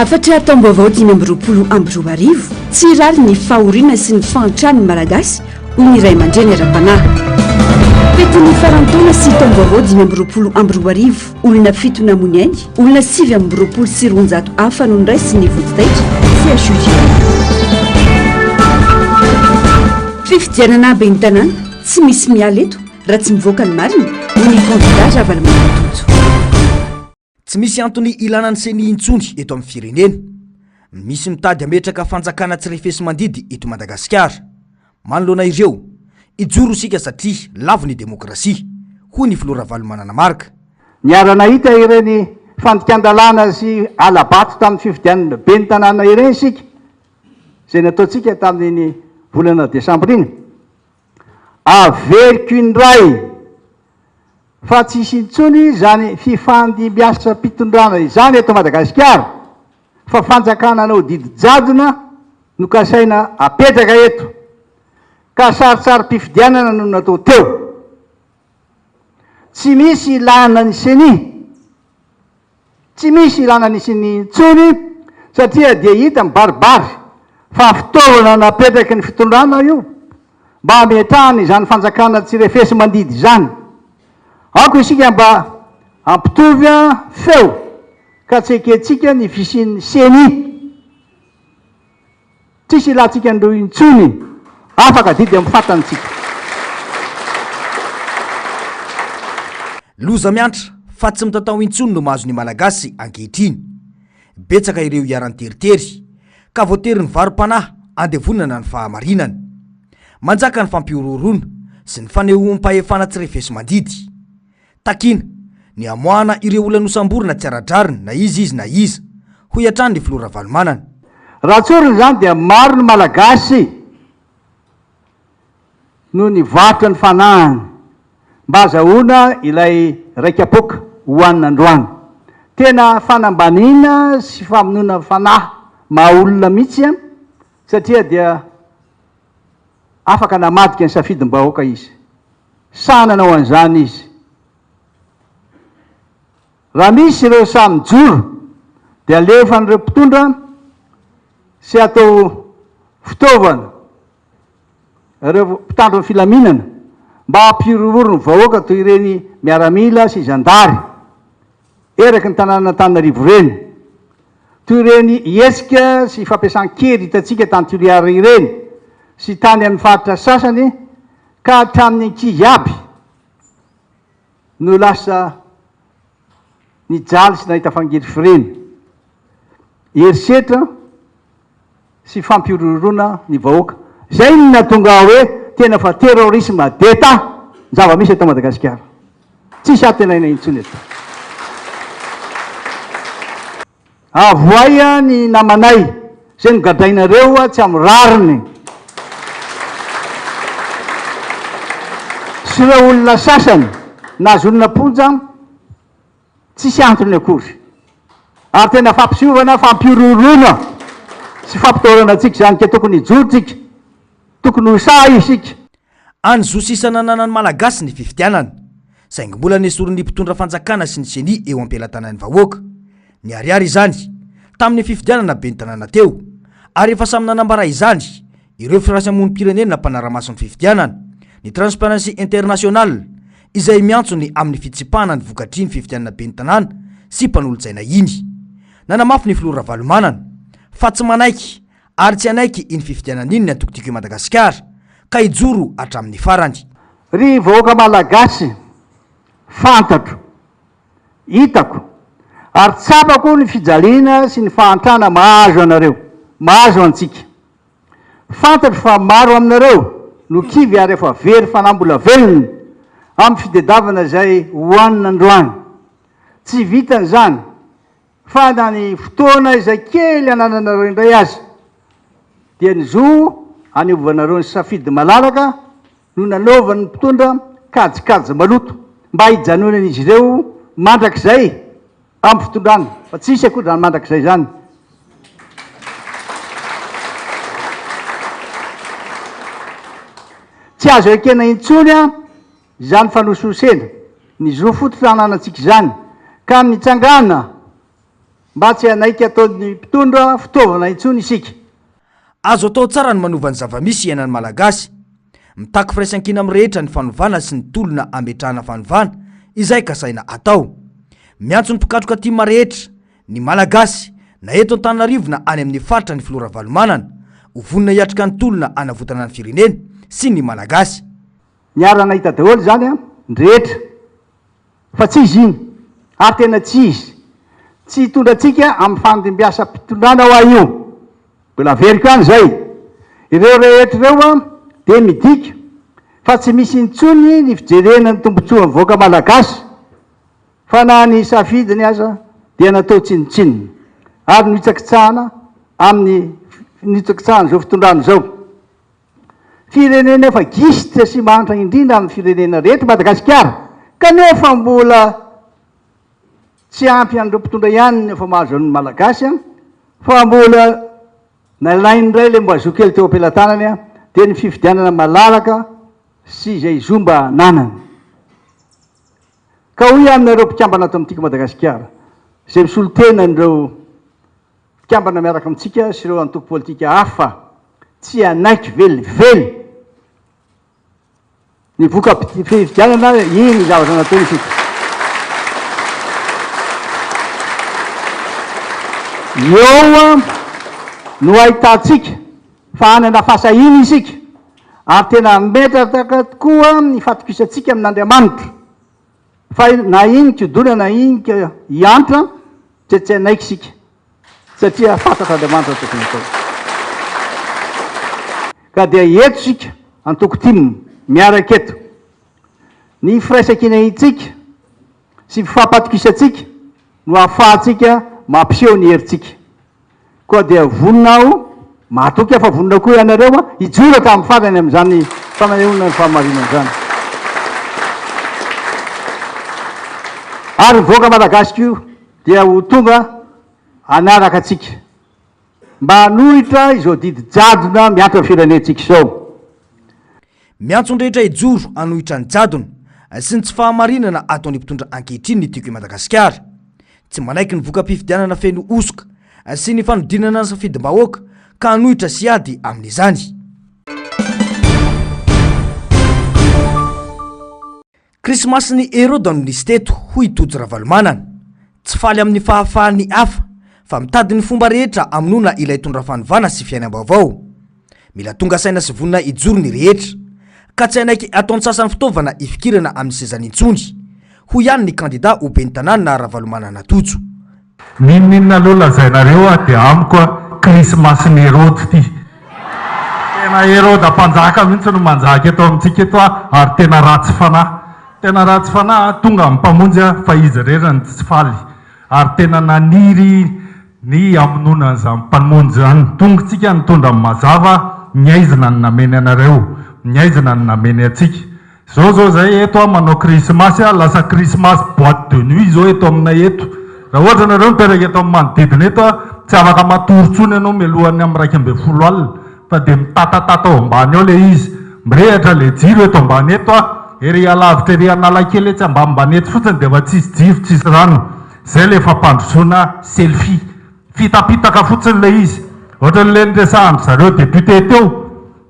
Hafatra taom-baovao dimy amby roapolo amby roa arivo, tsy hirary ny fahoriana sy ny fahantran'ny Malagasy hoy ny ray aman-dreny ara-panahy. Fetin'ny faran'ny taona sy taom-baovao dimy amby roapolo amby roa arivo, olona fito namoy ny ainy, olona sivy amby roapolo sy roanjato hafa no noraisin'ny vodi-taitra, CHUJ. Fifidianana ben'ny tanàna, tsy misy miala eto. Raha tsy mivoaka ny marina, hoy ny kandida Ravalomanana Tojo. Tsy misy antony ilana ny ceni intsony eto amin'ny firenena. Misy mitady hametraka fanjakana tsy refesi-mandidy eto Madagasikara. Manoloana ireo, hijoro isika satria lavo ny demokrasia, hoy ny filoha Ravalomanana Marc. Niara-nahita ireny fandikan-dalàna sy hala-bato tamin'ny fifidianana ben'ny tanàna ireny isika, izay nataontsika tamin'iny volana desambra iny. Averiko indray fa tsy hisy intsony izany fifandimbiasam-pitondrana izany eto Madagasikara fa fanjakana anao didy jadona no kasaina apetraka eto ka saritsarim-pifidianana no natao teo. Tsy misy ilàna ny ceni. Tsy misy ilana ny siny intsony satria dia hita mibaribary fa fitaovana napetraky ny fitondrana io mba hametrahany izany fanjakana tsy refesi-mandidy izany. Aoka isika mba hampitovy feo ka tsy ekentsika ny fisian'ny ceni. Tsisy ilantsika an'ireo intsony. Afaka adidy amin'ny fatany tsika. Loza miantra fa tsy mitatao intsony no mahazo ny Malagasy ankehitriny. Betsaka ireo iharan-teritery, ka voatery nivarom-panahy handevonana ny fahamarinana. Manjaka ny fampihorohoroana sy ny fanehoam-pahefana tsy refesi-mandidy. Takiana ny hamoahana ireo olona nosamborina tsy ara-drariny na iza izy na iza, hoy hatrany ny filoha Ravalomanana. Raha tsorina izany dia maro ny Malagasy no nivarotra ny fanahiny mba hazahoana ilay raika-poaka hohanina androany. Tena fanambaniana sy famonoana fanahy maha olona mihitsy satria dia afaka namadika ny safidim-bahoaka izy. Sahy nanao an'izany izy. Raha misy ireo sahy mijoro dia alefan'ireo mpitondra sy atao fitaovana ireo mpitandro ny filaminana mba hampihorohoro ny vahoaka toy ireny miaramila sy zandary. Eraky ny tanànan'Antananarivo ireny. Toy ireny hetsika sy fampiasan-kery hitantsika tany Toliara ireny sy tany amin'ny faritra sasany ka hatramin'ny ankizy aby no lasa nijaly sy nahita fangirifiriana. Herisetra. sy fampihorohoroana ny vahoaka. Izay no nahatonga aho hoe tena fa terrorisme d'Etat ny zava-misy eto Madagasikara. Tsisy antenaina intsony eto. Avohay ny namanay, izay nogadrainareo tsy amin'ny rariny sy ireo olona sasany nahazoana am-ponja. Tsisy antony akory. Ary tena fampiseovana, fampihorohoroana sy fampitahorana antsika izany ka tokony hijoro tsika, tokony ho sahy isika. Any zo sisa nananan'ny Malagasy ny fifidianana, saingy mbola nesorin'ny mpitondra fanjakana sy ny ceni eo am-pelatanan'ny vahoaka. Niharihary izany, tamin'ny fifidianana ben'ny tanàna teo, ary efa samy nanambara izany, ireo firaisamonim-pirenena mpanara-maso ny fifidianana, ny Transparency International, izay miantso ny amin'ny fitsipahana ny vokatry ny fifidianana ben'ny tanàna sy mpanolotsaina iny. Nanamafy ny filoha Ravalomanana, fa tsy manaiky ary tsy hanaiky iny fifidianana iny ny Antoko Tiako i Madagasikara, ka hijoro hatramin'ny farany. Ry vahoaka Malagasy, fantatro. hitako, ary tsapako ny fijaliana sy ny fahantrana mahazo anareo, mahazo antsika. Fantatro fa maro aminareo no kivy ary efa very fanahy mbola velona amin'ny fitedavana izay hohanina androany. Tsy vitan' izany fa na ny fotoana izay kely anananareo indray aza dia ny zo hanivovanareo ny safidy malalaka, no nanaovan'ny mpitondra kajikajy maloto mba hijanonan'izy ireo mandrakizay amin'ny fitondrana, fa tsy hisy akory izany mandrakizay izany. Tsy azo ekena intsony izany fanosihosena ny zo fototra ananantsika izany, ka mitsangàna mba tsy hanaiky ataon'ny mpitondra fitaovana intsony isika. Azo atao tsara ny manova ny zava-misy iainan'ny Malagasy. Mitaky firaisankina amin'ny rehetra ny fanovana sy ny tolona ametrahana fanovana, izay kasaina atao. Miantso ny mpikatroka tim rehetra, ny Malagasy, na eto Antananarivo na any amin'ny faritra ny Filoha Ravalomanana, ho vonona hiatrika ny tolona hanavotana ny firenena sy ny Malagasy. Miara-nahita daholo izany ny rehetra. Fa tsy izy iny. Ary tena tsy izy. Tsy hitondra antsika amin'ny fandimbihasam-pitondrana ho'a io. Mbola averiko any izay. Ireo rehetra ireo dia midika fa tsy misy intsony ny fijerena ny tombontsoan'ny vahoaka Malagasy, fa na ny safidiny aza dia natao tsinontsinona ary nohitsakitsahana amin'ny nitsakitsahana izao fitondrana izao. Firenena efa gisitra sy mahantra indrindra amin'ny firenena rehetra i Madagasikara, kanefa mbola tsy ampy an'ireo mpitondra ihany ny efa mahazo an'ny Malagasy fa mbola nalainy indray ilay mba zo kely teo am-pelatanany dia ny fifidianana malalaka sy izay zo mba ananany. Ka hoy aho aminareo mpikambana ato amin'ny Tiako Madagasikara izay misolo tena an'ireo Mpikambana miaraka amintsika sy ireo antoko politika hafa tsy hanaiky velively ny voka-pifidianana iny ny zavatra nataony isika. Eo no ahitantsika fa hanana fahasahiana isika ary tena hametraka tokoa ny fatokisantsika amin'Andriamanitra. Fa na iny kiodona na iny hiantra dia tsy hanaiky isika satria fantatr' Andriamanitra ny tokony hatao. Ka dia eto isika antoko tim miaraka eto. Ny firaisan-kinantsika sy fifampatokisantsika no ahafahantsika mampiseho ny herintsika. Koa dia vonona aho, mahatoky aho fa vonona koa ianareo, hijoro tamin'ny farany amin'izany fananehoana ny fahamarinana izany. Ary ny vahoaka malagasy koa dia ho tonga hanaraka antsika, mba hanohitra izao didy jadona miampy amin'ny firenentsika izao. Miantso ny rehetra hijoro hanohitra ny jadona sy ny tsy fahamarinana ataon'ny mpitondra ankehitriny ny Tiako i Madagasikara. Tsy manaiky ny voka-pifidianana feno hosoka sy ny fanodinana ny safidim-bahoaka ka hanohitra sy hiady amin'izany. Krismasin'ny Heroda no nisy teto, hoy i Tojo Ravalomanana. Tsy faly amin'ny fahafahan'ny hafa, fa mitady ny fomba rehetra hamonoana ilay tondra fanovana sy fiainam-baovao. Mila tonga saina sy vonona hijoro ny rehetra. Ka tsy hanaiky ataon-tsasany fitaovana hifikirana amin'ny sezany intsony. Hoy ihany ny kandida ho ben'ny tanàna Ravalomanana Tojo. N'inon'inona aloha lazainareo aho dia amiko a krismasin'i Herody ity. Tena Heroda mpanjaka mihitsy no manjaka eto amintsika eto a ary tena ratsy fanahy. Tena ratsy fanahy a, tonga amin'ny Mpamonjy a fa izy irery no tsy faly ary tena naniry ny hamonoana an'izany Mpamonjy izany. Tongotsika nitondra ny mazava, ny aizina no nameny anareo, ny aizina no nameny antsika. Zao zao zay eto a manao krismasy a lasa krismasy boite de nuit zao eto aminay eto ra ohatra nareo miteraka eto am manodidina eto a tsy afaka matory tsony anao mialohan'ny am raika ambin'ny folo alina fa de mitatatata ao ambany ao le izy mirehatra le jiro eto ambany eto a ery alavitra ery analakely etsy ambanimbany etsy fotsiny de efa tsisy jiro tsisy rano zay le fampandrosoana selfie fitapitaka fotsiny le izy ohatran'le niresahan-dry zareo député teo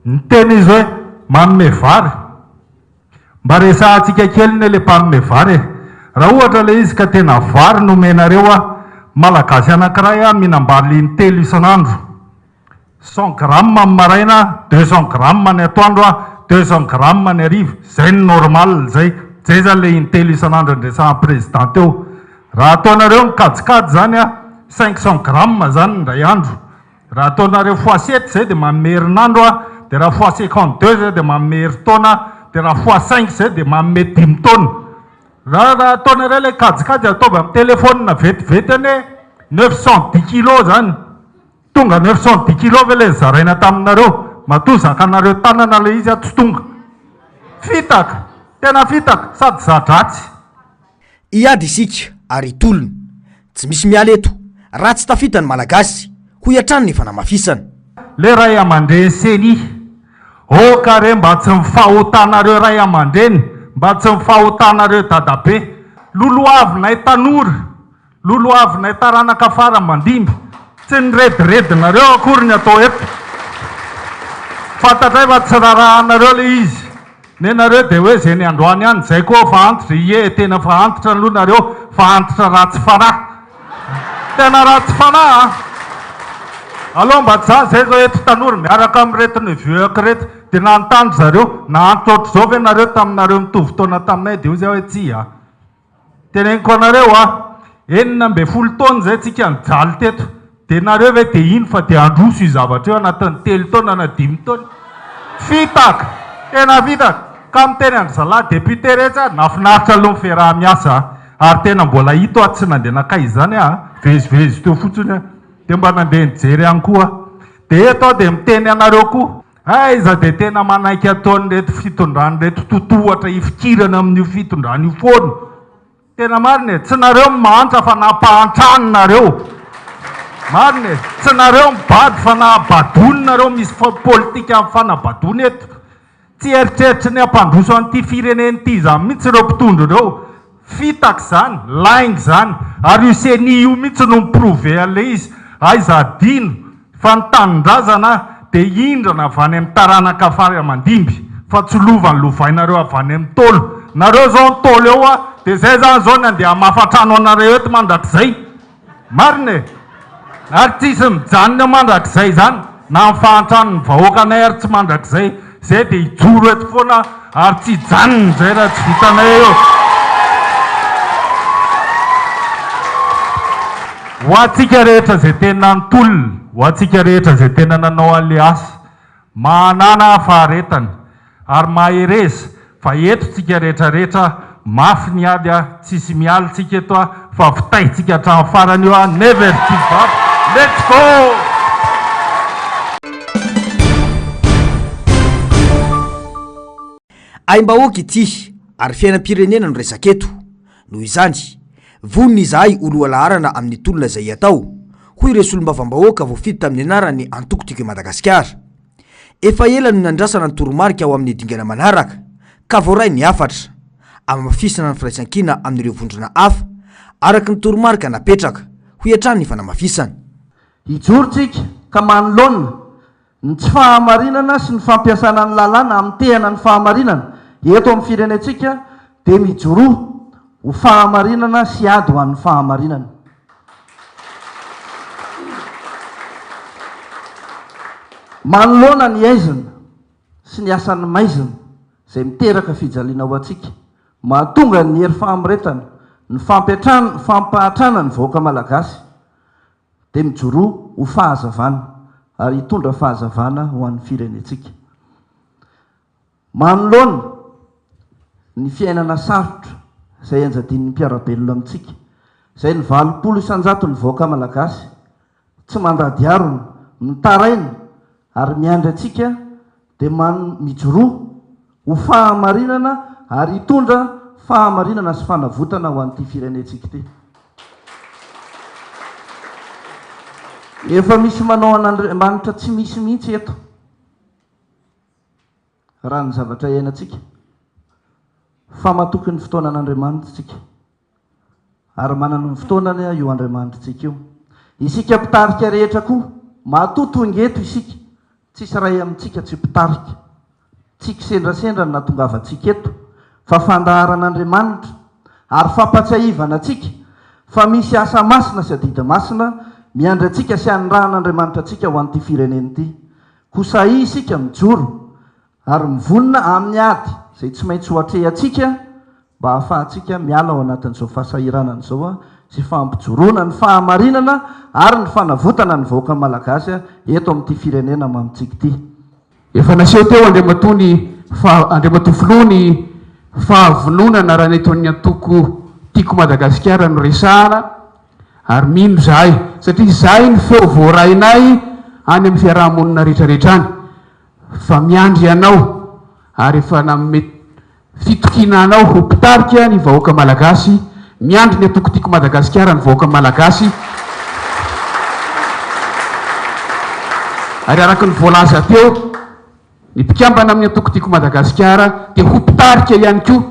Ny teny izy hoe manome vary e! Mba resahantsika kely ny le mpanome vary e! Raha ohatra ilay izy ka tena vary no omenareo an! Malagasy anankiray an mihinam-bary intelo isan'andro, cent grammes amin'ny maraina, deux cents grammes ny atoandro an, deux cents grammes ny hariva, izay no normal izay, izay izany ilay intelo isan'andro andresahan'ny président teo. Raha ataonareo ny kajikajy izany an, cinq cents grammes izany indray andro. Raha ataonareo fois sept zay dia manome herinandro a, dia raha fois cinquante deux zay dia manome herintaona a, dia raha fois cinq zay dia manome dimy taona. Raha raha ataonareo ilay kajikajy ataovy amin'ny telephone vetivety anie neuf cent dix kilos zany, tonga neuf cent dix kilos ve ilay nizaraina taminareo? Matoa zakanareo tanana ilay izy a tsy tonga. Fitaka, tena fitaka sady za-dratsy. Hiady isika ary hitolona. Tsy misy miala eto raha tsy tafita ny Malagasy, hoy hatrany ny fanamafisana. Le ray amandreny ceni oka re mba tsy mifahotanareo ray amandreny mba tsy mifahotanareo dadabe lolohavinay tanora Lolohavinay taranaka farany mandimby. Tsy ny rediredinareo akory ny atao eto. Fantatray fa tsy rarahanareo ilay izy. Nenareo dia hoe izay ny androany any izay koa fa antitra. Ie tena fa antitra aloha nareo fa antitra ratsy fanahy. Tena ratsy fanahy a! Aleo mba tsy za zay zao eto tanora miaraka amin'ireto neveux-ko ireto dia nanontany ry zareo, nahantra ohatr'izao ve nareo taminareo mitovy taona taminay dia hoy zay hoe tsia. Teneniko anareo a, enina ambin'ny folo taona izay tsika nijaly teto, dia nareo ve dia hino fa dia handroso io zavatra io anatin'ny telo taona na dimy taona? Fitaka! Tena fitaka! Ka miteny an-dry zalahy député rehetra aho, nahafinaritra aloha ny fiaraha-miasa a! Ary tena mbola hita aho tsy nandeha nankaiza izany aho a! Vezivezy teo fotsiny aho, dia mba nandeha nijery ihany koa aho. Dia eto aho dia miteny anareo koa. Aiza dia tena manaiky ataon'ireto fitondran'ireto totohatra hifikirana amin'io fitondrana io foana. Tena marina e, tsy nareo no mahantra fa nampahantrany nareo. Marina e, tsy nareo mibado fa nahabadony nareo, misy politikan'ny fanabadoana eto. Tsy eritreritry ny hampandroso an'ity firenena ity izany mihitsy ireo mpitondra ireo. Fitaka izany, lainga izany. Ary io ceni io mihitsy no mi-prouver an'ilay izy. Aiza adino fa ny tanindrazana dia hindrana avy any amin'ny taranaka fary aman-dimby fa tsy lova nolovainareo avy any amin'ny Ntaolo. Nareo izao Ntaolo eo dia izay izany izao ny andeha hamafa trano anareo eto mandrakizay. Marina e! Ary tsisy mijanona mandrakizay izany na amin'ny fahantrany ny vahoakanay ary tsy mandrakizay izay dia hijoro eto foana ary tsy hijanona izay raha tsy vitanay eo. Ho antsika rehetra izay tena nitolona, ho antsika rehetra izay tena nanao alliance, Mahanana faharetana ary mahereza fa eto tsika rehetra rehetra mafy ny ady a tsisy mialy tsika eto a fa vitahy tsika hatramin'ny farany io a never give up let's go! Aim-bahoaka ity ary fiainam-pirenena no resaka eto. Noho izany, vonona izahay ho lohalaharana amin'ny tolona izay atao, hoy ireo solombavambahoaka voafidy tamin'ny anaran'ny Antoko Tiako i Madagasikara. Efa ela no nandrasana ny toromarika ho amin'ny dingana manaraka, ka voaray ny hafatra, hamafisana ny firaisankina amin'ireo vondrona hafa, araka ny toromarika napetraka, hoy hatrany ny fanamafisana. Hijoro tsika ka manoloana Ny tsy fahamarinana sy ny fampiasana ny lalàna hamitehana ny fahamarinana eto amin'ny firenentsika dia mijoroa ho fahamarinana sy ady ho an'ny fahamarinana. Manoloana ny haizina sy ny asan'ny maizina izay miteraka fijaliana ho antsika, mahatonga ny hery fahamretana, ny fampiantrana, ny fampahantrana ny vahoaka malagasy, dia mijoroa ho fahazavana ary hitondra fahazavana ho an'ny firenentsika. Manoloana ny fiainana sarotra izay enjadin'ny mpiara-belona amintsika, izay ny valopolo isan-jaton'ny vahoaka malagasy tsy mandady harona, mitaraina ary miandry antsika dia man mijoroa ho fahamarinana ary hitondra fahamarinana sy fanavotana ho an'ity firenentsika ity. Efa misy manao an'Andriamanitra tsy misy mihitsy eto raha ny zavatra iainantsika fa matoky ny fotoana an'Andriamanitsika. Ary manana ny fotoanany io Andriamanitritsika io. Isika mpitarika rehetra koa, matoa tonga eto isika, tsisy iray amintsika tsy mpitarika. Tsy kisendrasendra ny nahatongavantsika eto, fa fandaharan'Andriamanitra, ary fampatsiahivana antsika fa misy asa masina sy adidy masina miandry antsika sy anirahan'Andriamanitra antsika ho an'ity firenena ity. Koa sahia isika mijoro ary mivonona amin'ny ady izay tsy maintsy hoatrehantsika mba hahafahantsika miala ao anatin'izao fahasahiranana izao sy fampijoroana ny fahamarinana ary ny fanavotana ny vahoaka Malagasy eto amin'ity firenena mamintsika ity. Efa naseho teo Andriamatoa ny faha Andriamatoa Filoha ny fahavononana raha ny eto amin'ny antoko Tiako Madagasikara no resahana ary mino izahay satria izay ny feo voarainay any amin'ny fiaraha-monina rehetrarehetra any Fa miandry anao ary efa nanome fitokiana anao ho mpitarika ny vahoaka malagasy, miandry ny atokotiko Madagasikara ny vahoaka malagasy, ary araka ny voalaza teo, ny mpikambana amin'ny atokotiko Madagasikara dia ho mpitarika ihany koa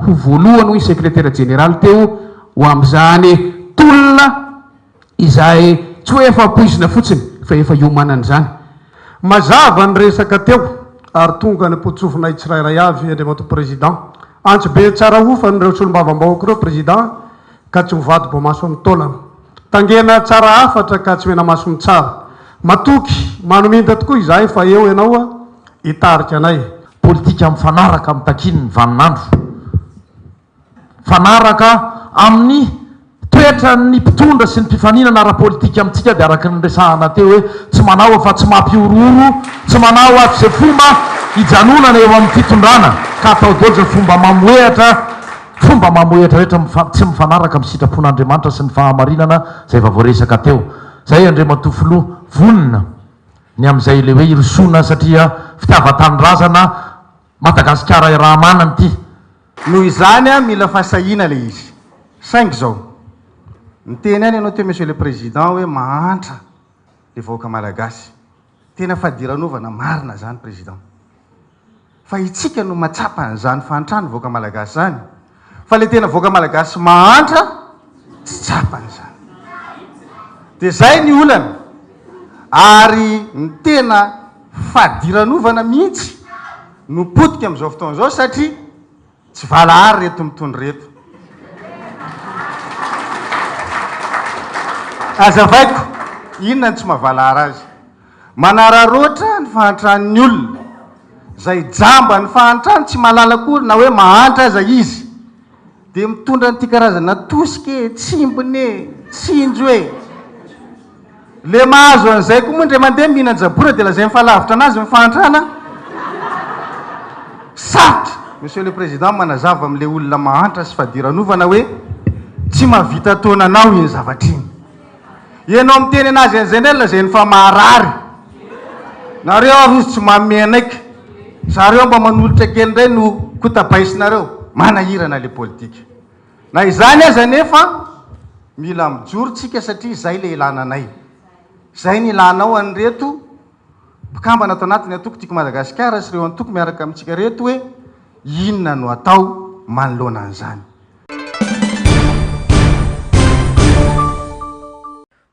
ho voalohany hoy ny sekretera jeneraly teo ho amin'izany tolona. Izay tsy hoe efa ampoizina fotsiny fa efa iomanana izany. Mazava ny resaka teo ary tonga ny mpotsofinay tsirairay avy Andriamatoa Président. Antsy be tsara hofany ireo solombavambahoaka ireo Président ka tsy mivadi-boamaso amin'ny taolana. Tangena tsara hafatra ka tsy menamaso ny tsara. Matoky, manominta tokoa izahay fa eo ianao hitarika anay. Politika mifanaraka amin'ny takian'ny vaninandro. Mifanaraka amin'ny toetran'ny mpitondra sy ny mpifaninana ara-politika amintsika dia araka ny niresahana teo hoe tsy manao afa-tsy mampihorohoro, tsy manao afa-tsy izay fomba hijanonana eo amin'ny fitondrana ka atao daholo izay fomba mamohehatra, fomba mamohehatra rehetra mifa, tsy mifanaraka amin'ny sitrapon'Andriamanitra sy ny fahamarinana izay efa voaresaka teo izay Andriamatoa Filoha. Vonona ny amin'izay ilay hoe hirosoana satria fitiavan-tanindrazana Madagasikara iray manana ity. Noho izany mila fasahiana ilay izy. Saingy izao. Niteny ihany ianao teo Monsieur le Président hoe mahantra ilay vahoaka Malagasy. Tena fadiranovana marina izany Président. Fa itsika no mahatsapa an'izany fahantrany vahoaka Malagasy izany. Fa le tena vahoaka malagasy mahantra tsy tsapany izany. Dia izay ny olana. Ary ny tena fadiranovana mihitsy no potika amin'izao fotoana izao satria tsy valahara ireto mitondra ireto. Azavaiko, inona no tsy mahavalahara azy? Manararoatra ny fahantran'ny olona. Izay jamba ny fahantrany, tsy mahalala akory na hoe mahantra aza izy, dia mitondra an'ity karazana tosika e, tsimbina e, tsinjo e. Ilay mahazo an'izay koa moa indray mandeha mihinan-jabora dia lazainy fa lavitra an'azy ny fahantrana. Sarotra, Monsieur le Président, manazava amin'ilay olona mahantra sy fadiranovana hoe tsy mahavita taona anao iny zavatra iny. Ianao miteny anazy en general zay ny fa maharary. Nareo ary ozy tsy manome anaiky. Zareo mba manolotra kely ndray no kotabaisinareo. Manahirana le politika. Na izany aza anefa mila mijoro tsika satria zay le ilana anay. Zay ny ilanao an'ireto. mpikambana ato anatin'ny antoko Tiako Madagasikara sy ireo antoko miaraka amintsika reto hoe inona no atao manoloana an'izany.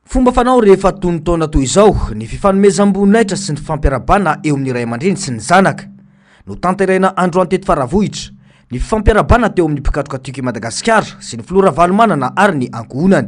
Fomba fanao rehefa tony taona toy izao ny fifanomezam-boninahitra sy ny fifampiarabana eo amin'ny ray aman-dreny sy ny zanaka. Notanterahina androany teto Faravohitra ny fifampiarabana teo amin'ny mpikatroka Tiako i Madagasikara sy ny filoha Ravalomanana ary ny ankohonany.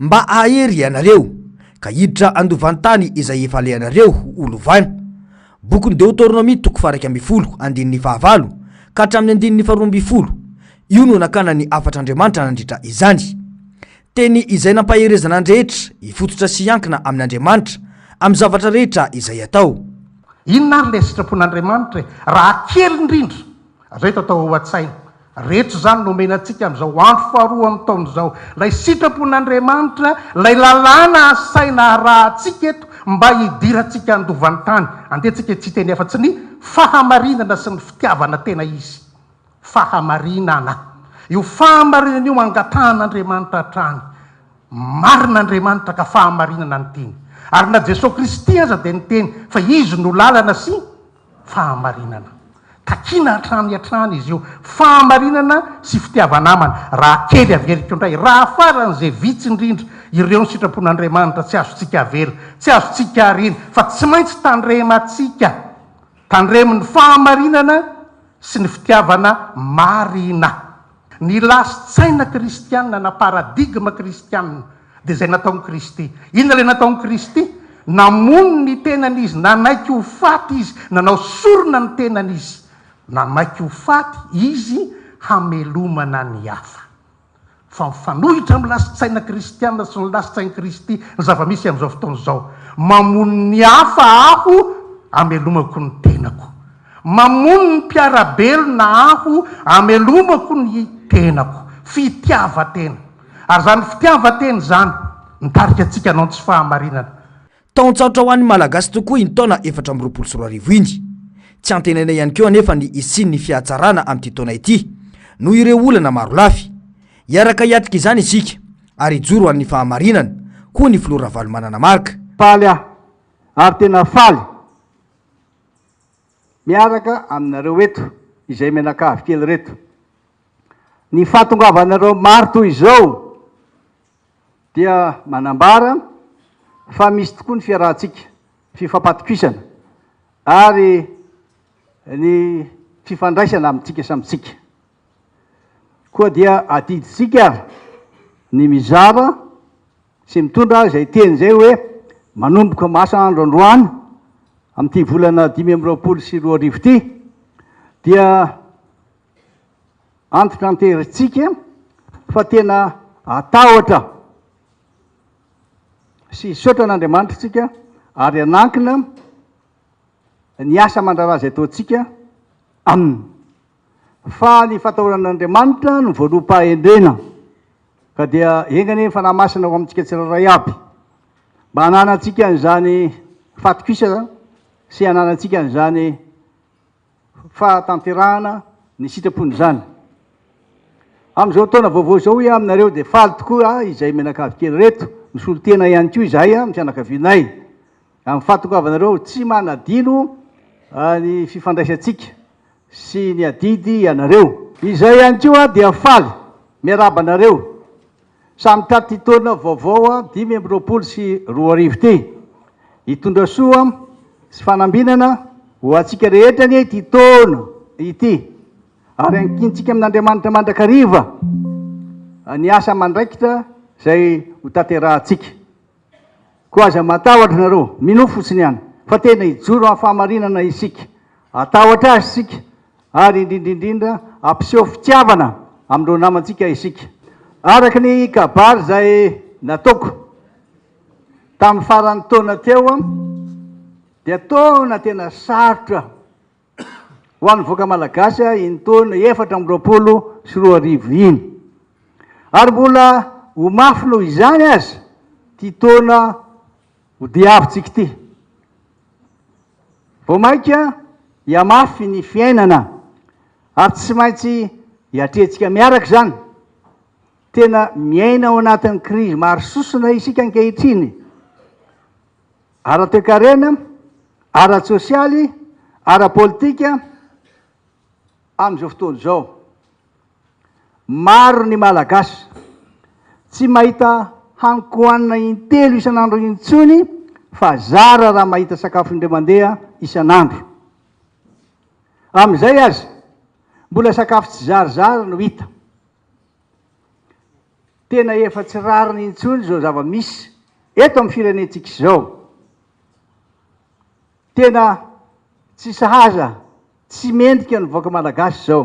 Mba hahery ianareo, ka hiditra handovan-tany izay efa alehanareo ho lovana. Bokin'ny Deoteronomia toko faha iraika ambin'ny folo, andininy faha valo ka hatramin'ny andininy faha roa ambin'ny folo. Io no nakana ny hafatr'Andriamanitra nandritra izany. Teny izay nampaherezana ny rehetra hifototra sy hiankina amin'Andriamanitra amin'ny zavatra rehetra izay atao. Inona ary ilay sitrapon'Andriamanitra e? Raha kely indrindra, Izay tao tao ao an-tsaina rehetra izany no omena antsika amin'izao andro faharoa amin'ny taona izao. Ilay sitrapon'Andriamanitra, ilay lalàna asaina harahantsika eto mba hidirantsika handovan'ny tany. Andehantsika tsy hiteny afa-tsy ny fahamarinana sy ny fitiavana tena izy. Fahamarinana. Io fahamarinana io angatahan'Andriamanitra hatrany. Marina Andriamanitra ka fahamarinana ny tiany. Ary na Jesoa Kristy aza dia niteny fa Izy no lalana sy fahamarinana. Takiana hatrany hatrany izy io, fahamarinana sy fitiava-namana. Raha kely averiko indray, raha faran'izay vitsy indrindra, ireo ny sitrapon'Andriamanitra tsy azontsika avela, tsy azontsika ariana, fa tsy maintsy tandremantsika. Tandremo ny fahamarinana sy ny fitiavana marina. Ny lasin-tsaina kristiana na paradigma kristiana dia izay nataon'i Kristy. Inona ilay nataon'i Kristy? Namono ny tenany Izy, nanaiky ho faty Izy, nanao sorona ny tenany Izy, nanaiky ho faty Izy hamelomana ny hafa. Fa mifanohitra amin'ny lasin-tsaina kristiana sy ny lasin-tsain'i Kristy ny zava-misy amin'izao fotoana izao. Mamono ny hafa Aho hamelomako ny tenako. Mamono ny mpiara-belona aho amelomako ny tenako. Fitiavan-tena. Ary izany fitiavan-tena izany mitarika antsika hanao ny tsy fahamarinana. Taon-tsarotra ho an'ny Malagasy tokoa iny taona efatra amby roapolo sy roa arivo iny. Tsy antenaina ihany koa anefa ny hisian'ny fihatsarana amin'ity taona ity, noho ireo olana maro lafy. Hiaraka hiatrika izany isika, ary hijoro ho an'ny fahamarinana, hoy ny filoha Ravalomanana Marc. Faly aho, ary tena faly. Miaraka aminareo eto izay mianakavy kely reto. Ny fahatongavanareo maro toy izao dia manambara fa misy tokoa ny fiarahantsika, fifampatokisana ary ny fifandraisana amintsika samy tsika. Koa dia adidintsika ny mizara. sy mitondra izay teny izay hoe manomboka masa andro androany amin'ity volana dimy amby roapolo sy roa arivo ity dia antitranterantsika fa tena atahotra sy hisaotra an'Andriamanitra isika ary hanankina ny asa mandrara izay ataontsika aminy. Fa ny fatahoran'Andriamanitra no voaloham-pahendrena, ka dia enga anie ny Fanahy Masina ao amintsika tsirairay aby, mba hananantsika an'izany fatokisana sy hananantsika an'izany fahatanterahana ny sitrapony izany. Amin'izao taona vaovao izao, hoy aho aminareo, dia faly tokoa aho izay mianakavy kely ireto, misolo tena ihany koa izahay amin'ny fianakavianay. Amin'ny fahatongavanareo, tsy manadino ny fifandraisantsika sy ny adidy ianareo. Izahay ihany koa dia faly miarahaba anareo samy taty taona vaovao dimy amby roapolo sy roa arivo ity. Hitondra soa sy fanambinana ho antsika rehetra anie ity taona ity ary ankintsika amin'Andriamanitra mandrakariva ny asa aman-draikitra izay hotanterahantsika. Koa aza matahotra nareo, minoa fotsiny ihany fa tena hijoro amin'ny fahamarinana isika. Hatahotra Azy isika, ary indrindra indrindra hampiseho fitiavana amin'ireo namantsika isika. Araka ny kabary izay nataoko tamin'ny faran'ny taona teo, dia taona tena sarotra ho an'ny vahoaka malagasy iny taona efatra amby roapolo sy roa arivo iny. Ary mbola ho mafy noho izany aza ity taona hodiavintsika ity. Vao mainka hihamafy ny fiainana ary tsy maintsy hiatrehantsika miaraka izany. Tena miaina ao anatin'ny krizy maro sosona isika ankehitriny. ara-toekarena, ara-tsosialy, ara-politika amin'izao fotoana izao. Maro ny Malagasy tsy mahita haniko hanina intelo isan'andro intsony fa zara raha mahita sakafo indray mandeha isan'andro. Amin'izay aza, mbola sakafo tsizarizary no hita. Tena efa tsy rariny intsony izao zava-misy eto amin'ny firenentsika izao. Tena tsy sahaza, tsy mendrika ny vahoaka malagasy izao.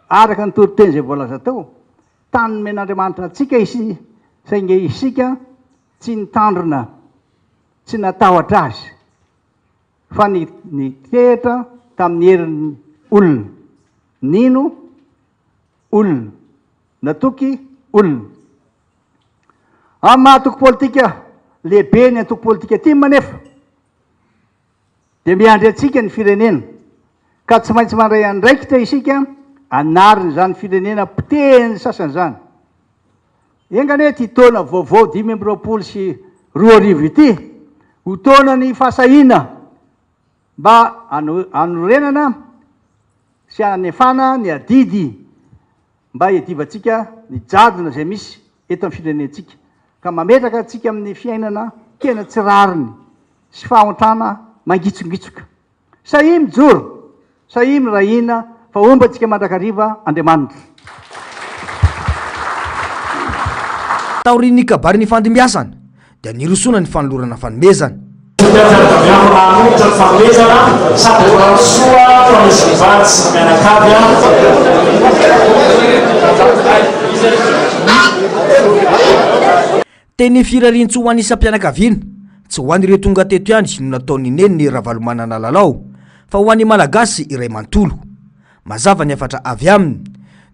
Araka ny toriteny izay voalaza tao, tany nomen'Andriamanitra antsika isi, saingy isika tsy nitandrina, tsy natahotra azy, fa ni, nitehitra tamin'ny herin'ny olona. Nino. olona, na toky olona. Amin'ny maha antoko politika lehibe ny antoko politika tim anefa dia miandry antsika ny firenena, ka tsy maintsy mandray andraikitra isika hanarina izany firenena potehin'ny sasany izany. Enga anie ity taona vaovao dimy amby roapolo sy roa arivo ity ho taonan'ny fahasahiana, mba hanorenana sy hanefana ny adidy mba hiadivantsika ny jadona izay misy eto amin'ny firenentsika ka mametraka antsika amin'ny fiainana tena tsy rariny sy fahantrana mangitsongitsoka. Sahia mijoro, sahia miray hina fa homba antsika mandrakariva Andriamanitra. Taorian'ny kabary nifandimbiasana, dia nirosoana ny fanolorana fanomezana. Fitiavana avy amin'ny maha-molotra ny fanomezana sady ho amin'ny soa ho an'izy mivady sy ny mianakavy. Teny Firariantsoa ho an'ny isam-pianakaviana, tsy ho an'ireo tonga teto ihany no nataon'ny neniny Ravalomanana Lalao fa ho an'ny Malagasy iray manontolo. Mazava ny hafatra avy aminy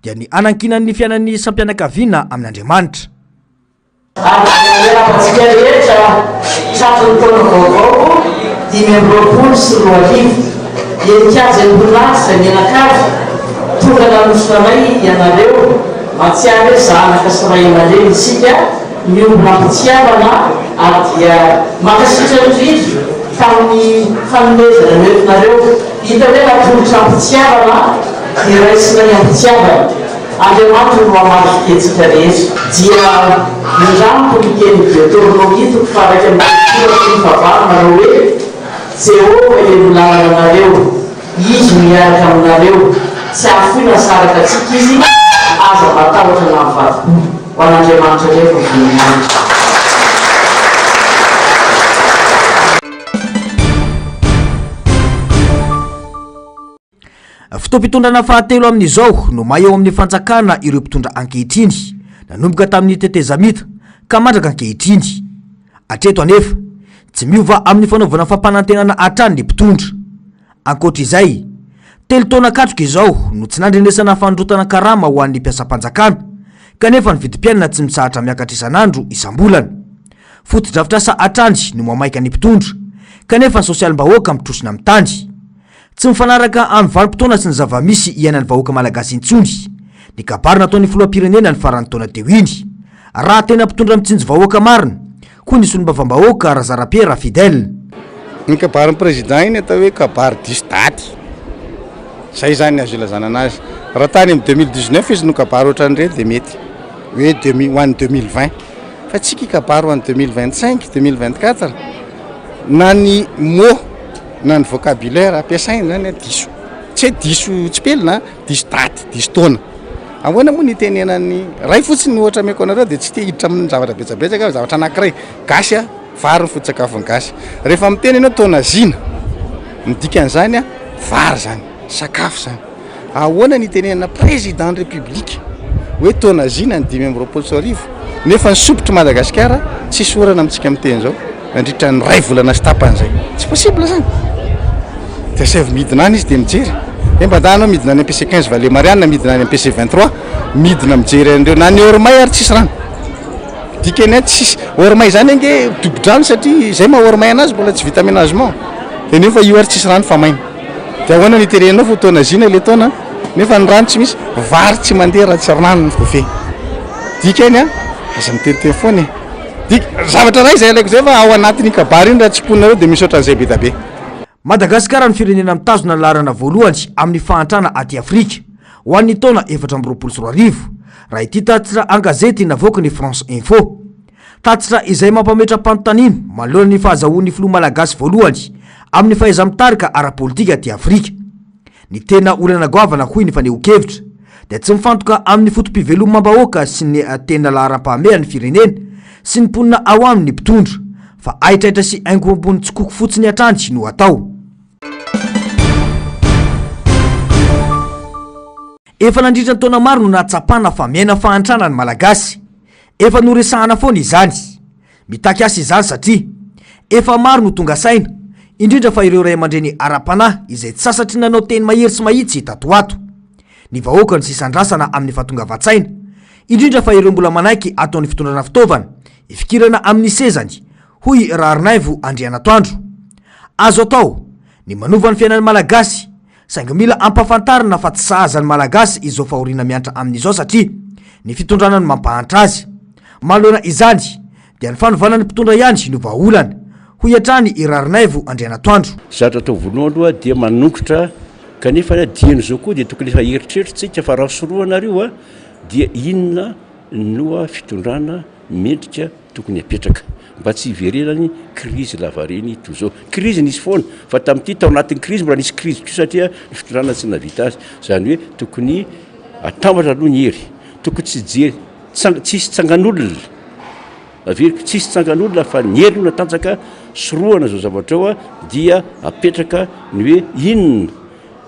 dia ny hanankinany ny fiainan'ny isam-pianakaviana amin'Andriamanitra. Andro izay hiarabantsika rehetra hitratry ny taona vaovao dimy amby roapolo sy roa arivo. Eny Kianja Embon'Atra izay mianakavy, tonga nanosona anay ianareo. Mahatsiaro hoe zanaka sy ray aman-dreny isika, miombona am-pitiavana ary dia mankasitra indrindra tamin'ny fanomezana noentinareo. Hita hoe natolotra am-pitiavana dia raisinay am-pitiavana. Andriamanitra no hamaky fihetsika rehetra. Dia nandranto ny tenin'i Deoteronomia toko faha-iraika ambin'ny folo sy roa ambin'ny folo ny fahavalo manao hoe, Jehovah ilay milalana anareo, Izy no hiaraka aminareo, tsy hahafoy na saraka antsika Izy, aza matahotra na mivadi-po. Ho an'Andriamanitra indray ny voninahitra. Fotoam-pitondrana fahatelo amin'izao no may ao amin'ny fanjakana ireo mpitondra ankehitriny, nanomboka tamin'ny tetezamita ka mandraka ankehitriny. Hatreto anefa, tsy miova amin'ny fanaovana fampanantenana hatrany ny mpitondra. Ankoatra izay, telo taona katroka izao no tsy nandrenesana fanondrotana karama ho an'ny mpiasam-panjakana, kanefa ny vidim-piainana tsy mitsahatra miakatra isan'andro, isam-bolana. Fotodrafitrasa hatrany no mamaika ny mpitondra, kanefa ny sosialim-bahoaka mitrosona amin'ny tany. Tsy mifanaraka amin'ny vanim-potoana sy ny zava-misy iainan'ny vahoaka malagasy intsony ny kabary nataon'ny filoham-pirenena ny faran'ny taona teo iny. Raha tena mpitondra mitsinjo vahoaka marina, hoy ny solombavambahoaka Razarapiera Fidèle, Iny kabarin'ny Président iny atao hoe kabary diso daty. Izay izany ny azo ilazana anazy. Raha tany amin'ny deux mille dix neuf izy no kabary ohatran'ireny dia mety. Hoe deux mille, ho an'ny deux mille vingt. Fa tsy hikabary ho an'ny deux mille vingt cinq, deux mille vingt quatre. Na ny mots. Na ny vocabulaire ampiasaina izany an, diso, tsy hoe diso tsipelina an, diso daty, diso taona. Ahoana moa no itenenan'ny, iray fotsiny no ohatra omeko anareo dia tsy te hiditra amin'ny zavatra betsabetsaka aho, zavatra anankiray, gasy an, vary no foto-tsakafon'ny gasy. Rehefa miteny ianao taona zina, ny dikan'izany an, vary izany, sakafo izany. Ahoana ny itenenana président ny république hoe taona zina ny dimy amby roapolo sy roa arivo nefa ny sompitry Madagasikara tsisy orana amintsika miteny zao nandritra ny ray volana sy tapany zay. Tsy possible zany. De asaivo midina any izy de mijery. He mba andahy anao midina any MPC 15 Vale Marianina midina any MPC 23 midina mijery an'ireo na ny heure may ary tsisy rano. Dikany any tsisy heure may zany ange dobo-drano satria zay maha heure may anazy mbola tsy vita aménagement de nefa io ary tsisy rano fa maina. Dia ahoana no iterenao fotoana zina ilay taona nefa ny rano tsy misy? Vary tsy mandeha raha tsy rano ny kofehy. Dikany a, aza miteniteny foana e. Dik, zavatra iray izay ilaiko izay fa ao anatin'iny kabary iny raha tsiponinareo dia misaotra an'izay be da be. Madagasikara no firenena mitazona ny laharana voalohany amin'ny fahantrana aty Afrika, ho an'ny taona efatra amby roapolo sy roa arivo, raha ity tatitra an-gazety navoaky ny France Info. Tatitra izay mampametra-panontaniana manoloana ny fahazahoan'ny filoha malagasy voalohany amin'ny fahaiza-mitarika ara-politika aty Afrika. Ny tena olana goavana hoy ny fanehoan-kevitra dia tsy mifantoka amin'ny foto-pivelomam-bahoaka sy ny tena laharam-pahamehan'ny firenena sy ny mponina ao aminy ny mpitondra fa haitraitra sy haingo ambony tsikoko fotsiny hatrany no atao. Efa nandritra ny taona maro no nahatsapana fa miaina fahantrana ny Malagasy. Efa noresahana foana izany. Mitaky asa izany satria efa maro no tonga saina, indrindra fa ireo ray aman-dreny ara-panahy izay tsy sasatry ny nanao teny mahery sy mahitsy tato ho ato. Ny vahoaka no sisa andrasana amin'ny fahatongavan-tsaina, indrindra fa ireo mbola manaiky ataon'ny fitondrana fitaovana ifikirana amin'ny sezany, hoy Raharinaivo Andrianatoandro. Azo atao ny manova ny fiainan'ny Malagasy Saingy mila ampafantarina fa tsy sahaza ny Malagasy izao fahoriana miantra aminy izao satria ny fitondrana no mampahantra azy. Manoloana izany dia ny fanovana ny mpitondra ihany no vahaolana, hoy hatrany i Rarinaivo Andrianatoandro. Zatra atao voalohany aloha dia manongotra kanefa dian'izao koa dia tokony efa eritreritrintsika fa raha sorohana ary io dia inona no fitondrana mendrika tokony apetraka mba tsy hiverenany krizy lavareny toy izao. Krizy nisy foana fa tamin'ity tao anatin'ny krizy mbola nisy krizy koa satria ny fitondrana tsy nahavita azy. Izany hoe tokony atambatra aloha ny hery, tokony tsy hijery tsang- tsy hisy tsangan'olona averiko tsy hisy tsangan'olona fa ny hery no natanjaka sorohana izao zavatra ao a, dia apetraka ny hoe inona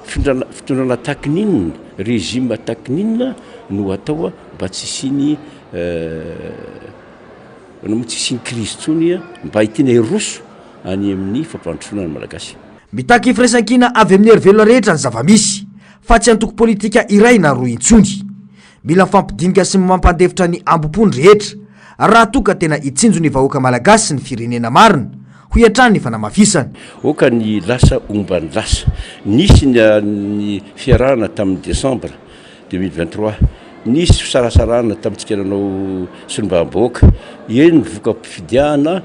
findrana- fitondrana tahakin'inona, régime tahakin'inona no atao a mba tsy hisian'ny Eh, anao moa tsy hisian'ny krizy intsony eh, mba hitiana hiroso any amin'ny fampandrosoana ny Malagasy. Mitaky firaisankina avy amin'ny herivelona rehetra ny zava-misy, fa tsy antoko politika iray na roa intsony. Mila mifampidinika sy mampandefitra ny ambom-po ny rehetra, raha toa ka tena hitsinjo ny vahoaka malagasy sy ny firenena marina, hoy hatrany ny fanamafisana. Oka ny lasa omban'ny lasa. Nisy ny fiarahana tamin'ny desambra. Deux mille vingt trois, Nisy fisarasarahana tamintsika nanao solombavambahoaka, eny ny voka-pifidianana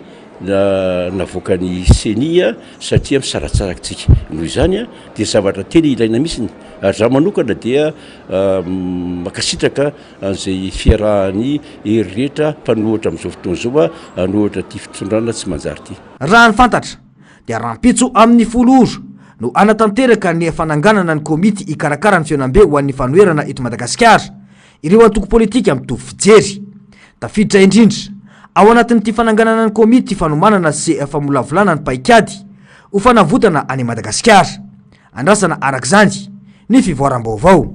navoakan'ny ceni satria misaratsaraka isika. Noho izany dia zavatra tena ilaina mihitsy ny, ary izaho manokana dia mankasitraka an'izay fiarahan'ny hery rehetra mpanohitra amin'izao fotoana izao hanohitra ity fitondrana tsy manjary ity. Raha ny fantatra, dia rahampitso amin'ny folo ora no hanatanteraka ny fananganana ny komity hikarakara ny fihaonambe ho an'ny fanoherana eto Madagasikara ireo antoko politika mitovy fijery. Tafiditra indrindra ao anatin'ity fananganana ny komity fanomanana sy famolavolana ny paikady ho fanavotana an'i Madagasikara. Andrasana araka izany ny fivoaram-baovao.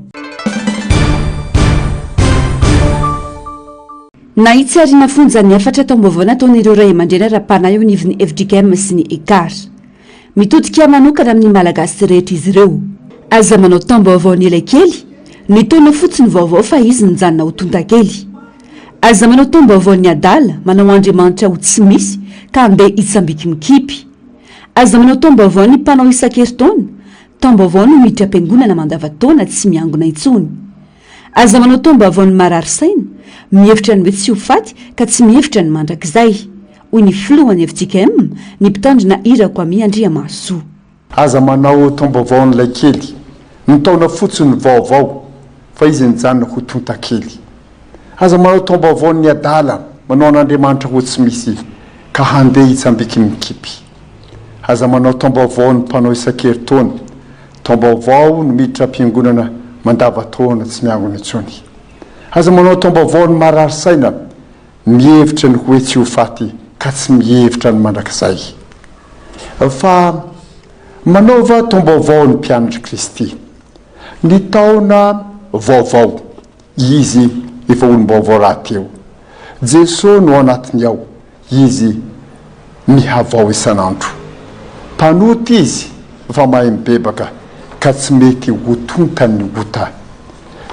Nahitsy ary nafonja ny hafatra taom-baovao nataon'ireo ray aman-dreny ara-panahy eo anivon'ny FJKM sy ny ECAR. Mitodika manokana amin'ny Malagasy rehetra izy ireo. Aza manao taom-baovao ny elaikely, ny taona fotsy no vaovao fa izy nijanona ho tontakely. Aza manao taom-baovao ny adala, manao Andriamanitra ho tsy misy ka andeha hitsambikimikipy. Aza manao taom-baovao ny mpanao isan-kerintaona, taom-baovao no miditra am-piangonana mandava-taona tsy miangona intsony. Aza manao taom-baovao ny marary saina, mihevitra ny hoe tsy ho faty ka tsy mihevitra ny mandrakizay, hoy ny filohan'ny fjkm, ny mpitandrina hira Kwamy Andriamahasoa. Aza manao taom-baovao an'ilay kely, ny taona fotsiny vaovao fa izy nijanona ho tontakely. Aza manao taom-baovao ny adala, manao an'Andriamanitra ho tsy misy ka handeha hitsambiky mikipy. Aza manao taom-baovao ny mpanao isan-keritaona, taom-baovao no miditra am-piangonana mandava-taona tsy miangona intsony. Aza manao taom-baovao ny marary saina, mihevitra ny hoe tsy ho faty ka tsy mihevitra ny mandrakizay. Fa manaova taom-baovao ny mpianatry Kristy. Ny taona vaovao. Izy efa olom-baovao rahateo. Jeso no ao anatiny ao, Izy mihavao isan'andro. Mpanota Izy fa mahay mibebaka ka tsy mety ho tontan'ny ota.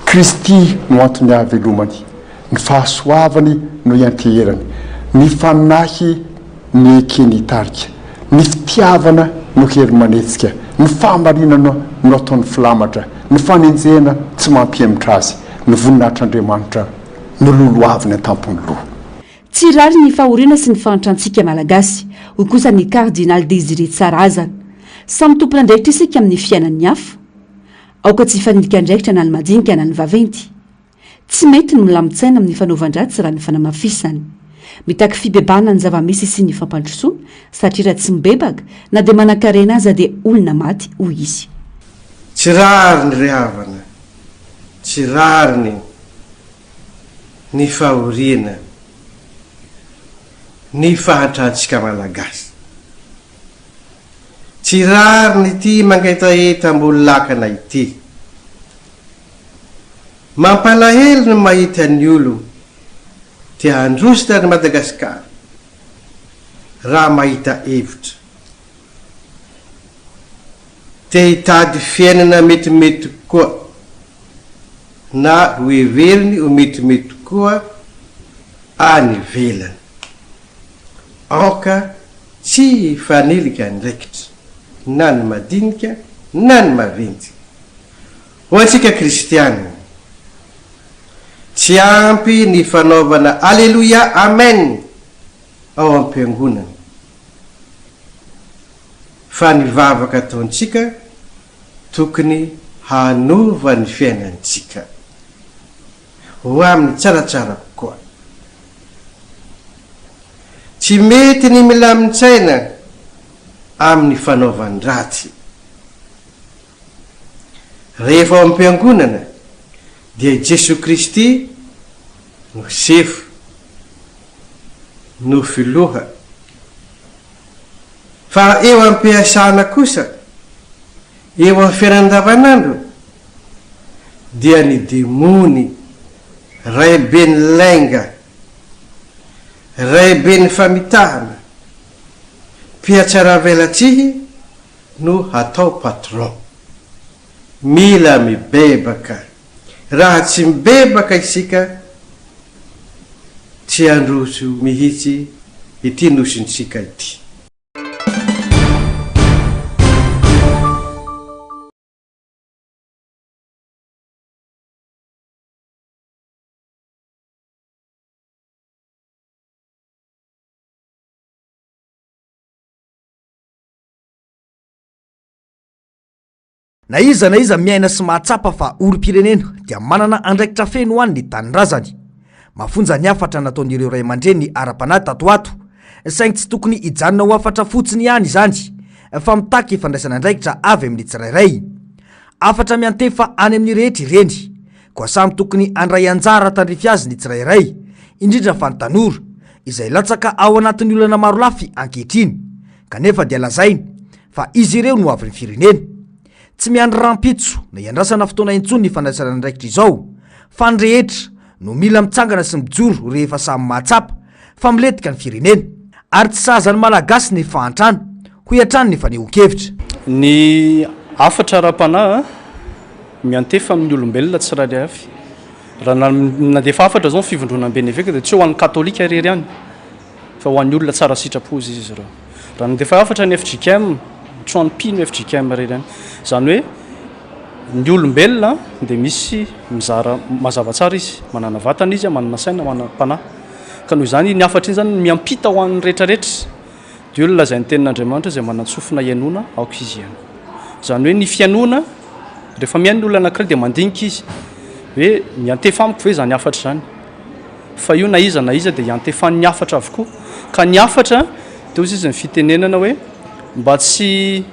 Kristy no antony hahavelomany, ny fahasoavany no ianteherany, ny fanahy, ny eke nitarika, ny fitiavana no hery manetsika, ny fahamarinana no ataony filamatra, ny fanenjehana tsy mampihemotra azy, ny voninahitr'Andriamanitra no lolohaviny an-tampon'ny loha. Tsy rariny ny fahoriana sy ny fahantrantsika Malagasy, hoy kosa ny Kardinaly Désiré Tsarahazana. Samy tompon'andraikitra isika amin'ny fiainan'ny hafa. Aoka tsy hifanilika andraikitra na ny madinika na ny vaventy. Tsy mety ny milamin-tsaina amin'ny fanaovan-dratsy raha ny fanamafisany. Mitaky fibebahana ny zava-misy sy ny fampandrosoana, satria raha tsy mibebaka, na dia manankarena aza dia olona maty, hoy izy. Tsy rariny re havana, tsy rariny ny fahoriana ny fahantrantsika Malagasy. Tsy rariny ity mangetaheta amboholakana ity. Mampalahelo ny mahita ny olo te handrositra an'i Madagasikara raha mahita hevitra. Te hitady fiainana metimety koa na ho heveriny ho metimety koa any ivelany. Aoka tsy hifanilika andraikitra na ny madinika na ny maventy. Ho antsika kristiana, tsy ampy ny fanaovana Aleloia, Amen ao am-piangonana, fa ny vavaka ataontsika tokony hanova ny fiainantsika ho amin'ny tsaratsara kokoa. Tsy mety ny milamin-tsaina amin'ny fanaovan-dratsy. Rehefa ao am-piangonana dia i Jesoa Kristy no sefo, no filoha. Fa eo am-piasana kosa, eo amin'ny fiainana andavanandro, dia ny demony, raiben'ny lainga, raiben'ny famitahana, mpihatsaravelatsihy no hatao patron. Mila mibebaka. Raha tsy mibebaka isika tsy handroso mihitsy ity nosintsika ity. Na iza na iza miaina sy mahatsapa fa olom-pirenena dia manana andraikitra feno ho an' ny tanindrazany. Mafonja ny hafatra nataon'ireo ray aman-dreny ara-panahy tato ho ato, saingy tsy tokony hijanona ho hafatra fotsiny ihany izany, fa mitaky fandraisana andraikitra avy amin'ny tsirairay. Hafatra miantefa any amin'ny rehetra ireny, koa samy tokony handray anjara tandrify azy ny tsirairay, indrindra fa ny tanora, izay latsaka ao anatin'ny olana marolafy ankehitriny. kanefa dia lazainy fa izy ireo no avin'ny firenena. Tsy miandry rahampitso na iandrasana fotoana intsony ny fandraisana andraikitra izao, fa ny rehetra no mila mitsangana sy mijoro rehefa samy mahatsapa fa milentika ny firenena, ary tsy sahaza ny Malagasy ny fahantrana, hoy hatrany ny fanehoan-kevitra. Ny hafatra ara-panahy miantefa amin'ny olombelona tsirairay avy. Raha nandefa hafatra izao ny Fivondronamben'ny Eveka dia tsy ho an'ny Katolika irery ihany. Fa ho an'ny olona tsara sitrapo izy izy ireo. Raha nandefa hafatra ny fjkm, trano mpino fjkm re ireny. Izany hoe ny olombelona dia misy mizara mazava tsara izy. Manana vatana izy, manana saina, manana mpanahy. Ka noho izany iny hafatra iny izany no miampita ho an'ny rehetra rehetra. Dia io no lazain'ny tenin'Andriamanitra izay manan-tsofina hihainoana aoka izy hihaino. Izany hoe ny fihainoana, rehefa mihaino ny olona anankiray dia mandinika izy hoe miantefa amiko ve izany hafatra izany? fa io na iza na iza dia iantefan'ny hafatra avokoa, ka ny hafatra dia hozy izy ny fitenenana hoe mba tsy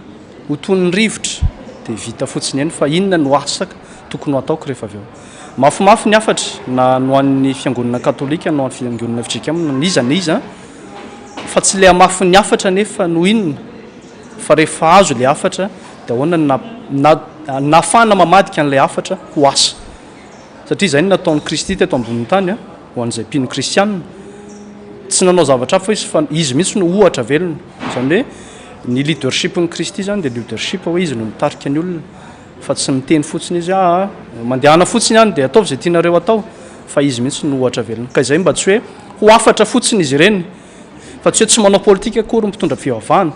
ho toy ny rivotra dia vita fotsiny eny fa inona no asa tokony ho ataoko rehefa avy eo. Mafimafy ny hafatra na ny ho an'ny fiangonana katolika na ho an'ny fiangonana FJKM na iza na iza fa tsy ilay hamafin'ny hafatra anefa no inona fa rehefa azo ilay hafatra dia ahoana no nahafahana mamadika an'ilay hafatra ho asa. satria izay no nataon'i Kristy teto ambonin'ny tany a, ho an'izay mpino kristianina. Tsy nanao zavatra hafa izy fa izy mihitsy no ohatra velona. Izany hoe ny leadershipn'i Kristy izany dia leadership hoe izy no mitarika ny olona fa tsy miteny fotsiny izy ah, ah mandehana fotsiny any dia ataovy izay tianareo atao fa izy mihitsy no ohatra velona. Ka izay mba tsy hoe ho hafatra fotsiny izy ireny fa tsy hoe tsy manao politika akory ny mpitondra fivavahana.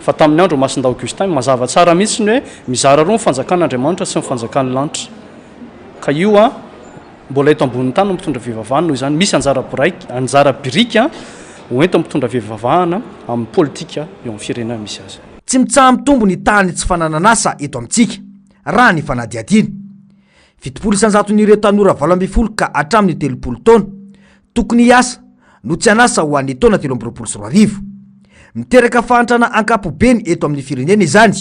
Fa tamin'ny andro Masindahy Augustin, mazava tsara mihitsy ny hoe mizara roa ny fanjakan' Andriamanitra sy ny fanjakan' ny lanitra. Ka io an, mbola eto ambonin'ny tany no mitondra fivavahana, noho izany misy anjara biraika, anjara birika ho entin'ny mpitondra fivavahana amin'ny politika eo amin'ny firenena misy azy. Tsy mitsaha-mitombo ny tahan'ny tsy fananan'asa eto amintsika, raha ny fanadihadiana. Fitopolo isan-jaton'ireo tanora valo ambin'ny folo ka hatramin'ny telopolo taona, Tokony hiasa no tsy an'asa ho an'ny taona telo amby roapolo sy roa arivo. Miteraka fahantrana ankapobeny eto amin'ny firenena izany.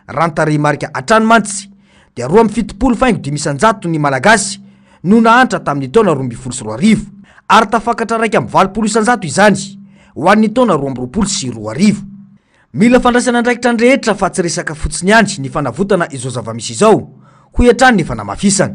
Raha ny tarehimarika hatrany mantsy dia roa amby fitopolo faingo dimy isan-jato ny Malagasy no nahantra tamin'ny taona roa ambin'ny folo sy roa arivo ary tafakatra iraika amby valopolo isan-jato izany ho an'ny taona roa amby roapolo sy roa arivo. Mila fandraisana andraikitra ny rehetra fa tsy resaka fotsiny ihany ny fanavotana izao zava-misy izao, hoy hatrany ny fanamafisana.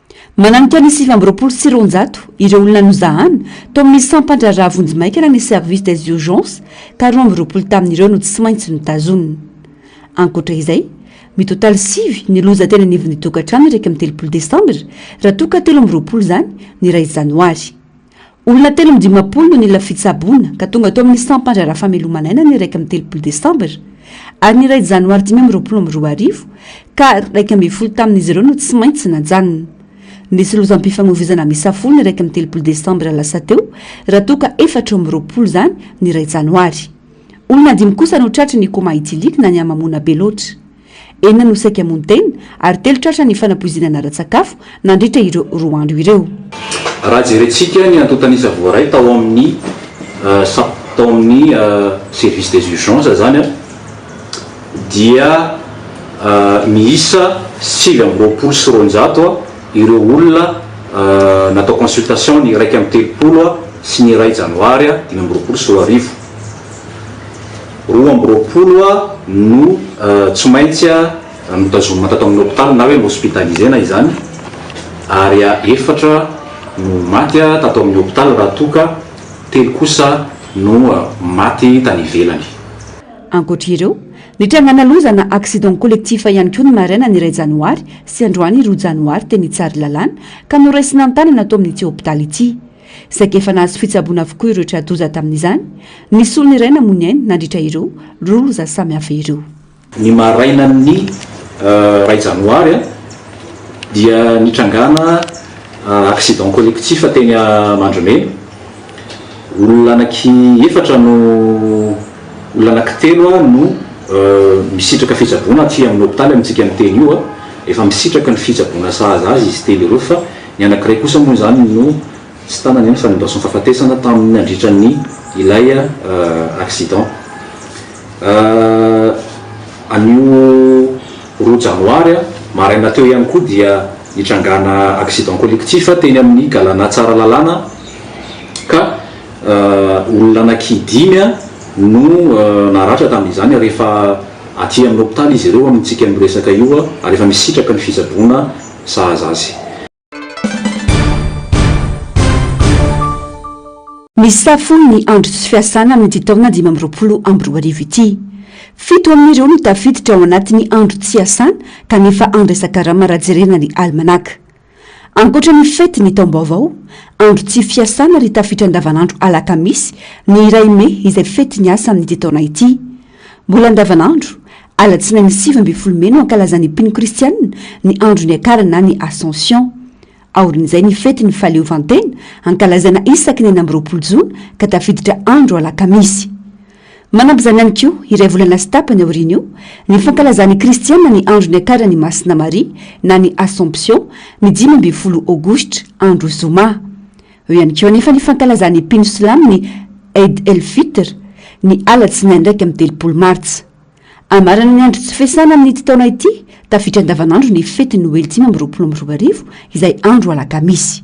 Mananika ny sivy amby roapolo sy roanjato ireo olona nozahana tao amin'ny sampan-draharaha vonjimaikana ny Service des Urgences ka roa amby roapolo tamin'ireo no tsy maintsy notazonina. Ankoatra izay, mitotaly sivy ny loza teny anivon'ny tokantrano iraika amby telopolo desambra raha toa ka telo amby roapolo izany ny iray janoary. Olona telo amby dimampolo no nila fitsaboana ka tonga tao amin'ny sampan-dry Rafamelomanana ny iraika amby telopolo desambra ary ny iray janoary dimy amby roapolo amby roa arivo ka iraika ambin'ny folo tamin'izy ireo no tsy maintsy najanona. Nisy lozam-pifamoivoizana miisa folo ny iraika amby telopolo desambra lasa teo raha toa ka efatra amby roapolo izany ny iray janoary. Olona dimy kosa no tratry ny coma éthylique na ny hamamoana be loatra. Enina no saika hamono tena ary telo tratra ny fanapoizinana ara-tsakafo nandritra ireo roa andro ireo. Raha jerentsika ny antontan'isa voaray tao amin'ny sap, tao amin'ny service des urgences izany dia miisa sivy amby roapolo sy roanjato ireo olona natao consultation ny iraika amby telopolo sy ny iray janoary dimy amby roapolo sy roa arivo. Roa amby roapolo no tsy maintsy notazomina tato amin'ny hopitaly na hoe nohospitaliser-na izany ary efatra no maty tato amin'ny hopitaly raha toa ka telo kosa no maty tany ivelany. Ankoatra ireo, nitrangana loza na accident collectif ihany koa ny marainan'ny iray janoary sy androany roa janoary teny Tsaralalàna ka noraisina an-tanana ato amin'ity hopitaly ity. saika efa nahazo fitsaboana avokoa ireo tra-doza tamin'izany, ny solony iray namoy ny ainy nandritra ireo roa loza samihafa ireo. Ny marainan'ny iray janoary dia nitrangana accident collectif teny Amandrimena. Olona anaky efatra no, olona anaky telo no misitraka fitsaboana aty amin'ny hopitaly amintsika miteny io. Efa misitraka ny fitsaboana sahaza azy izy telo ireo fa. Ny anankiray kosa moa izany no tsy tanana ihany fa nindaosin'ny fahafatesana tamin'ny nandritra ny ilay accident. Anio roa janoary maraina teo ihany koa dia nitrangàna accident collectif teny amin'ny Galana Tsaralalàna ka olona anaky dimy no naratra tamin'izany rehefa aty amin'ny hopitaly izy ireo amintsika miresaka io ary efa misitraka ny fitsaboana sahaza azy. Misafo ny andro tsy fiasana amin'ity taona dimy amby roapolo amby roa arivo ity. Fito amin'ireo no tafiditra ao anatin'ny andro tsy hiasana kanefa handraisan-karama raha jerena ny alimanaka. Ankoatra ny fety ny taom-baovao, andro tsy fiasana ary tafitra andavanandro alakamisy ny iray mey izay fety ny asa amin'ity taona ity. Mbola andavanandro, Alatsinainy sivy ambin'ny folo mey no ankalazan'ny mpino kristianina ny andro niakarany na ny Ascension. Aorian'izay ny fetin'ny fahaleovantena ankalazana isaky ny enina amby roapolo jona ka tafiditra andro alakamisy. Manampy izany ihany koa, iray volana sy tapany aorian'io, ny fankalazan'ny kristianina ny andro niakaran'i Masina Maria na ny Assomption ny dimy ambin'ny folo aogositra, andro zoma. Eo ihany koa anefa ny fankalazan'ny mpino silamo ny Eid el-Fitr ny alatsinainy iraika amby telopolo martsa. Hamarana ny andro tsy fiasana amin'ity taona ity, tafiditra andavanandro ny fetin'ny Noely dimy amby roapolo amby roa arivo, izay andro alakamisy.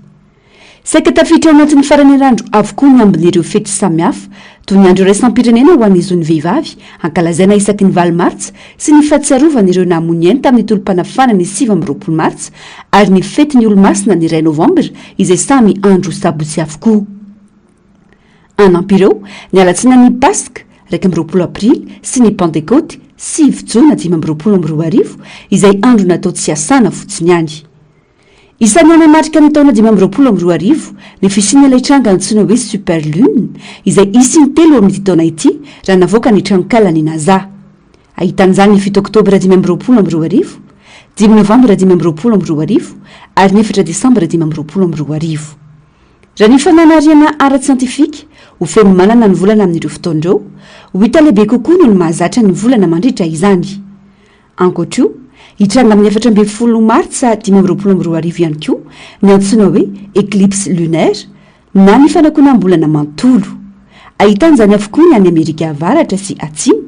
Saika tafiditra ao anatin'ny faran'ny herinandro avokoa ny ambin'ireo fety samihafa, toy ny andro iraisam-pirenena ho an'ny zon'ny vehivavy, hankalazaina isaky ny valo martsa, sy ny fahatsiarovana ireo namoy ny ainy tamin'ny tolom-panafahana ny sivy amby roapolo martsa, ary ny fetin'ny Olomasina ny iray novambra, izay samy andro sabotsy avokoa. Hanampy ireo ny alatsinan'ny Paska iraika amby roapolo aprily sy ny Pantekoty sivy jona dimy amby roapolo amby roa arivo izay andro natao tsy hiasana fotsiny ihany. Isan'ny hanamarika ny taona dimy amby roapolo amby roa arivo ny fisian'ilay tranga antsoina hoe Super Lune izay hisy intelo amin'ity taona ity raha navoaka ny tranonkalan'ny Nasa. Ahitana izany ny fito oktobra dimy amby roapolo amby roa arivo, dimy novambra dimy amby roapolo amby roa arivo ary ny efatra desambra dimy amby roapolo amby roa arivo. Raha ny fananariana ara-tsiantifika, ho feno manana ny volana amin'ireo fotoana ireo, ho hita lehibe kokoa noho ny mahazatra ny volana mandritra izany. Ankoatra io, hitranga amin'ny efatra ambin'ny folo Martsa dimy amby roapolo amby roa arivo ihany koa ny antsoina hoe éclipse lunaire na ny fanakonam-bolana manontolo. Ahitan-izany avokoa ny any Amerika Avaratra sy Atsimo